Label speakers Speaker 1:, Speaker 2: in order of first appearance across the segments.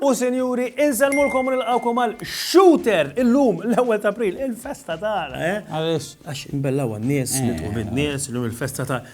Speaker 1: U senjuri, inselmulkom u nilqawkom għal Shooter illum l-ewwel ta' April, il-festa tagħna, eh? Għaliex? Għax imbellaw għan-nies, nitqu bin-nies, illum il-festa ta'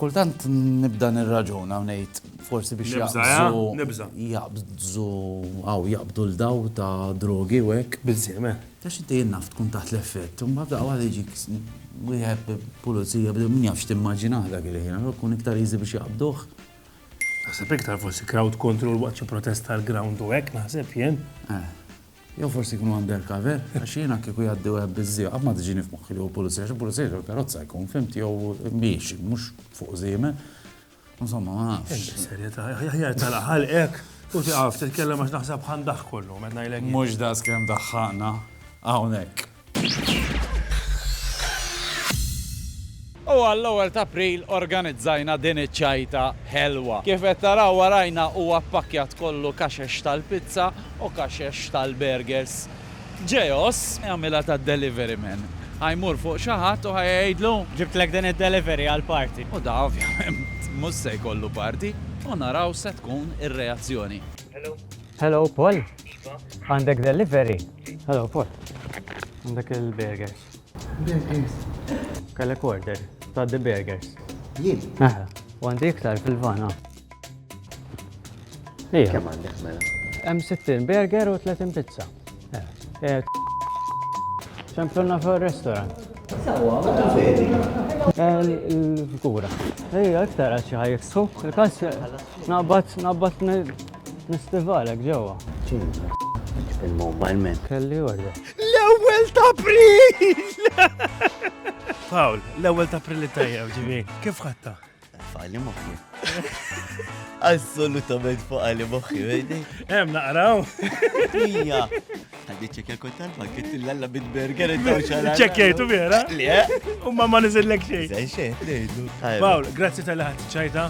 Speaker 1: Kultant nibda nirraġuna u ngħid forsi biex jaqbżu. Nibża. Jaqbżu għaw jaqbdu l-daw ta' drogi u hekk. Bizzime. Ta' xi tejn naf tkun taħt l-effett, u mbagħad daqqa waħda jiġik wieħed pulizija bdew min jafx timmaġinah dak il-ħin, allura kun iktar easy biex jaqbduh. Naħseb iktar forsi crowd control waqt xi protesta l-ground u hekk naħseb jien. Jew forsi jkunu undercover, għax jiena kieku jgħaddi wieħed biż-żieq qatt ma tiġini f'moħħi li hu pulizija, għax il-pulizija jew il-karozza jkun, fhimti, jew miexi, mhux fuq żiemel. Insomma, ma nafx. Serjetà, aħjar tala ħalqek u tiqaf titkellem għax naħseb ħandaħ kollu, meta ngħidlek. Mhux das kemm daħħaqna hawnhekk. U għall-ewwel t'April organizzajna din iċ-ċajta ħelwa. Kif qed taraw warajna huwa ppakkjat kollu kaxex tal-pizza u kaxex tal-burgers. Ġeos, jagħmilha tad-delivery man, ħa jmur fuq xi ħadd u ħa jgħidlu, Ġibtlek din id-delivery għall-party. U da ovvjament mhux se jkollu party u naraw x'se tkun ir-reazzjoni. Hello, Paul. Għandek delivery? Hello, Paul. Għandek il-burgers. Burgers. Kellek order ta' the burgers. Jien? Aha, u għandi iktar fil-vana. Ija. Kemm għandek mela? Hemm 60 burger u 30 pizza. Eh, Ċemplonna fuq il-restaurant. Sawa, ma vedi. Il-figura. Ejja, iktar għaxi ħajksu. Il-kas, nabbat, nabbat L-istival hekk ġewwa. Il-mobile man. Kelli orda. L-ewwel ta' April! Fawl, l-ewwel ta' April tajjeb ġivi. Kif ħatta? Fali moħħi. Assolutament fali moħħi, vedi? Hemm naqraw. Ija. Għaddi ċekja kont talba, kitt l-alla bit-burger id-daw xara. Ċekjajtu vera? Le? U ma ma nizillek xej. Zajxej, lejdu. Pawl, grazzi tal-ħat ċajta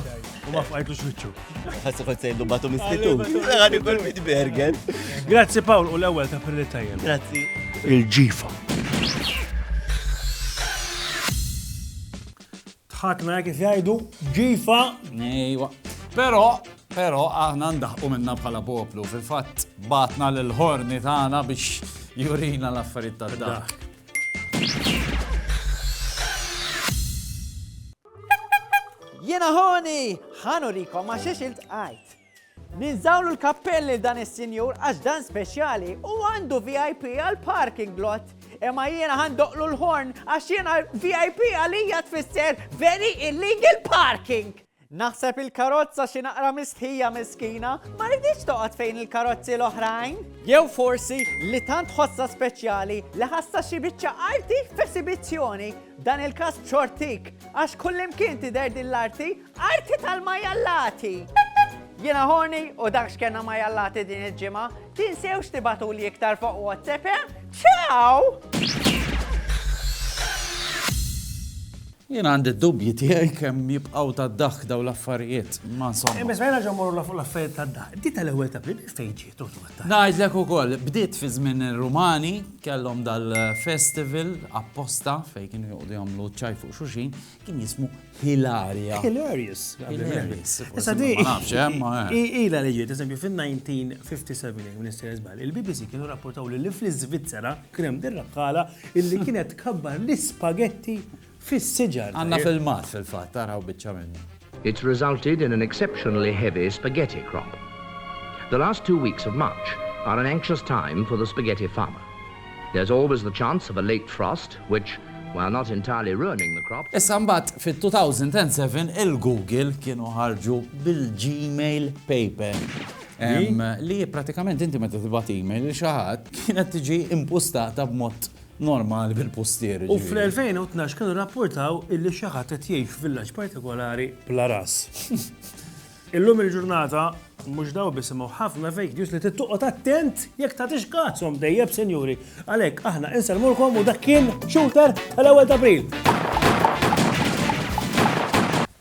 Speaker 1: u ma fqajtu xwiċċu. Għassu kont sejdu batu mistitu. Għani kol mit bergen. Grazzi Paul u l-ewel ta' perli tajjem. Grazzi. Il-ġifa. Tħakna kif jajdu, ġifa. Nejwa. Pero, pero aħna ndaħqu minna bħala poplu. Fil-fat batna l-ħorni tagħna biex jurina l-affarijiet ta' dak. Jiena ħoni! Ħa nurikom għax xiex iltqajt. Ninżawlu l-kappell lil dan is-sinjur għax dan speċjali u għandu VIP għal parking lot. Imma jiena ħandoqlu l-horn għax jiena VIP għalija tfisser very illegal parking. Naħseb il-karozza xi naqra mistħija miskina, ma ridix toqgħod fejn il-karozzi l-oħrajn. Jew forsi li tant ħossa speċjali li ħassa xi biċċa arti f'esibizzjoni Dan il-każ b'xortik, għax kullimkien tidher din l-arti, arti tal-majallati! Jiena Horny u dak x'kena majallati din il-ġimgħa, tinsewx tibatuli iktar fuq WhatsApp, eh? Ciao! Jien għandi d-dubji tiegħi kemm jibqgħu tad-daħk daw l-affarijiet, ma insomma. Imma żmejna ġo mmorru l-affarijiet tad-daħk. Di tal-ewwel ta' bli fejn ġietu Ngħidlek ukoll, bdiet fi żmien ir-Rumani, kellhom dal-festival apposta fejn kienu joqgħdu jagħmlu ċaj fuq xuxin, kien jismu Hilaria. Hilarious. Hilarious. Issa di. Ma nafx, eh, ma. Ila li ġiet, eżempju, fin-1957, minn s żbal, il-BBC kienu rapportaw li fl-Iżvizzera kien hemm dir-rakkala illi kienet kabbar l-ispagetti fis-siġar. Għandna filmat fil-fatt, araw biċċa minnu. It's resulted in an exceptionally heavy spaghetti crop. The last two weeks of March are an anxious time for the spaghetti farmer. There's always the chance of a late frost which, while not entirely ruining the crop, Issa mbagħad fit-2007 il-Google kienu ħarġu bil-Gmail Paper. Li? Li pratikament inti meta tibgħat email lil xi ħadd kienet tiġi impustata b'mod normali bil-pustieri, ġifieri. U fl-2012 kienu rrappurtaw illi xi ħadd qed jgħix f'villaġġ partikolari bla ras. Illum il-ġurnata mhux daw biss imma ħafna fake news li tittoqgħod attent jekk tagħtix kazhom dejjeb sinjuri. Għalhekk aħna insellmulkom u dak kien shooter tal-ewwel ta' April.